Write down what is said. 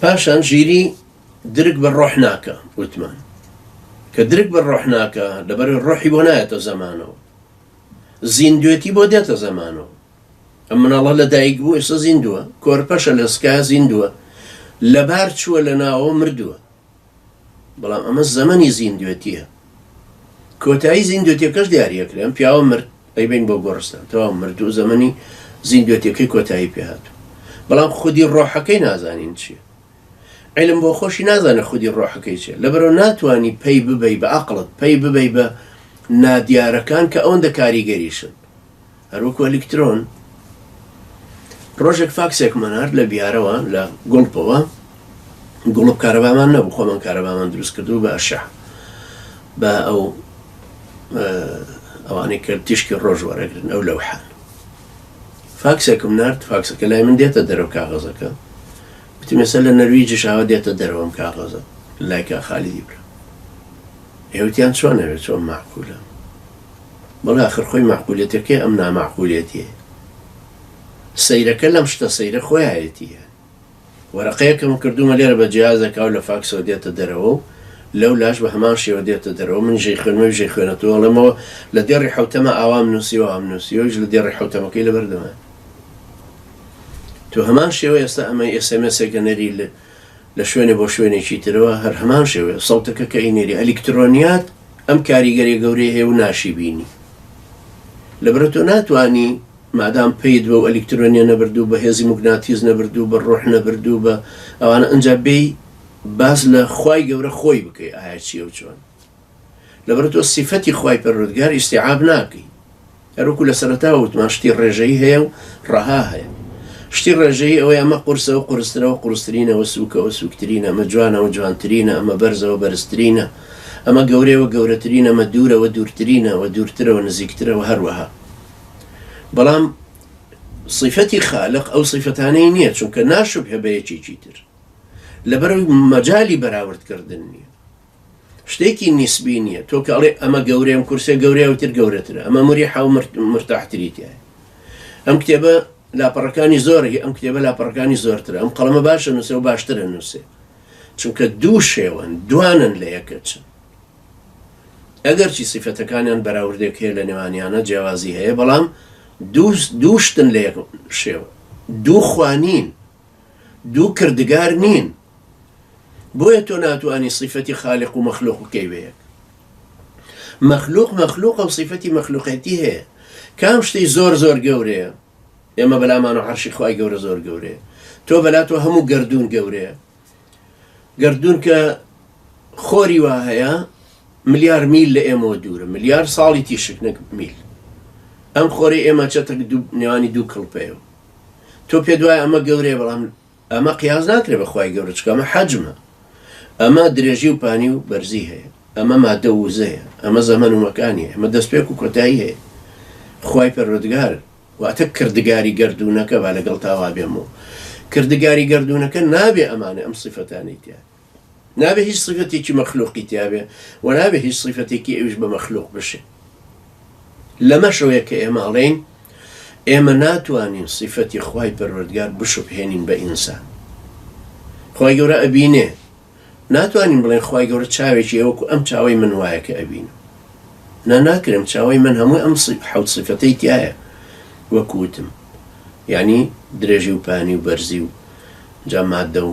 پاشان ژیری درک بە ڕۆح ناکا، وتمان کە درک بە ڕۆح ناکا لەبەرەوەی ڕۆحی بۆ نایەتە زەمانەوە، زیندوێتی بۆ دێتە زەمانەوە، ئەم مناڵە لە دایک بوو ئێستا زیندووە، کۆرپەشە لە سکایە زیندووە، لەبار چووە لە ناوەوە مردووە، بەڵام ئەمە زەمەنی زیندوێتییە. کۆتایی زیندوێتیەکەش دیاری ئەکرێ. ئەم پیاوە مرد، ئەیبەین بۆ گۆڕستان. تەواو مردوو، زەمەنی زیندوێتیەکەی کۆتایی پێ هاتوو. بەڵام خودی ڕۆحەکەی نازانین چییە. عیلم بۆ خۆشی نازانێ خودی ڕۆحەکەی چییە. لەبەرئەوە ناتوانی پەی ببەی بە عەقڵت، پەی ببەی بە نادیارەکان کە ئەوەندە کاریگەریشن. هەروەکو ئەلیکترۆن. ڕۆژێک فاکسێکمان هات لە بیارەوە لە گوڵپەوە گوڵپ کارەبامان نەبوو خۆمان کارەبامان دروست کردو بە ئەشع بە ئەو ئەوانەی کە تیشکی ڕۆژ وەرەگرن ئەو لەو حان فاکسێکم نرد فاکسەکە لای من دێتە دەرەوە کاغەزەکە وتی مەسە لە نەرویجی شاوە دێتە دەرەوەم کاغەزە لایکە خالیدی برا ئێوتیان چۆن نەوێت چۆن معقولە بەڵێ ئاخر خۆی مەعقولیەتەکەی ئەم نامەعقولیەتیە سەیرەکە لەم شتە سەیرە خۆیایەتی یان وەرەقەیەکم کردومە لێرە بە جیازەکە و لە فاکسەوە دێتە دەرەوە و لەو لاش بە هەمان شێوە دێتە دەرەوە من ژەی خوێنمەوی ژەی خوێنەتەوە ئەڵێمەوە لە دێڕی حوتەمە ئاوام نووسیوە ئام نووسیوەش لە دێڕی حوتەمەکەی لەبەردەمە تو هەمان شێوە ئێستا ئەمە ئێسێمێسێکە نەری لە شوێنێ بۆ شوێنێکی ترەوە هەر هەمان شێوەیە سەوتەکە کە ئینێری ئەلیکترۆنیات ئەم کاریگەریە گەورەی هەیە و ناشی بینی لەبرە تۆ ناتوانی مادام پیت بە و ئەلیکترۆنیە نەبرد و بە هێزی مگناتیز نەبرد و بە ڕۆح نەبرد و بە ئەوانە ئەجا بێی باز لە خوای گەورە خۆی بکەی ئایا چیە و چۆن لەبەر تۆ سیفەتی خوای پەروەردگار ئیستیعاب ناکەی هەروەکو لە سەرەتاوە وتمان شتی ڕێژەیی هەیە و ڕەها هەیە شتی ڕێژەیی ئەوەی ئەمە قورسەوە قورسترەوە قورسترینەوە سووکەوە سووکترینە ئەمە جوانەوە جوانترینە ئەمە بەرزەوە بەرزترینە ئەمە گەورەوە گەورەترینە ئەمە دوورەوە دوورترینەوە دوورترەوە نزیکترەوە هەروەها بەڵام صفەتی خالق ئەو صفەتانەی نییە چونکە ناشوب هەبەیەکێکی تر لەبەر مەجای بەراوردکردن نییە شتێکی نیسبی نییە تۆ کە ئەڵێ ئەمە گەورەی ئەم کورسە گەورەی ئەوی تر گەورەترە ئەمە مریحا و مرت- مرتاحتری تایە ئەم کتێبە لاپەڕەکانی زۆرەی ئەم کتێبە لاپەڕەکانی زۆرترە ئەم قەڵەمە باشە نووسێ و باشترە نووسێ چونکە دوو شێوەن دوانن لە یەکە چن ئەگەرچی سیفەتەکانیان بەراوردێک هەیە لە نێوانیانە جیاوازی هەیە بەڵام دوو دوو شتن لە یەک شێوە دوو خوانین دوو کردگار نین بۆیە تۆ ناتوانی سیفەتی خالق و مەخلوق بکەی بە یەک مەخلوق مەخلوقە و سیفەتی مەخلوقێتی هەیە کام شتی زۆر زۆر گەورەیە ئێمە بەلامان و عەرشی خوای گەورە زۆر گەورەیە تۆ بەلا تۆ هەموو گردردون گەورەیە گردردون کە خۆری وا هەیە ملیار میل لە ئێمەوە دوورە ملیار ساڵی تیشک نەک میل ئەم خۆری ئێمە چەتەک نێوانی دوو کڵپەیە تۆ پێ دوای ئەمە گەورەیە بەڵام ئەمە قیاس ناکرێ بە خوای گەورە چونکە ئەمە حەجمە ئەمە درێژی و پانی و بەرزی هەیە ئەمە مادە و وزەیە ئەمە زەمەن و مەکانی ئەمە دەستپێک و کۆتایی هەیە خوای پەروەردگار واتە کردگاری گەردوونەکە با لەگەڵ تاوا بێم و کردگاری گەردوونەکە نابێ ئەمانە ئەم سیفەتانەی تیا نابێ هیچ سیفەتێکی مەخلوقی تیا بێ و نابێ هیچ سیفەتێکی ئەویش بە مەخلوق بشێ لەمەشەوەیە کە ئێمە ئەڵێین ئێمە ناتوانین سیفەتی خوای پەروەردگار بشوبهێنین بە ئینسان خی گەورە ئەبینێ ناتوانین بڵێن خی گەورە چاوێکی ئەوەکو ئەم چاوی من وایە کە ئەبین نا ناکرم چاوی من هەموو ئەم حوت سیفەتەی تایە وەکوتم یعنی درێژی و پانی و بەرزی و جامادە و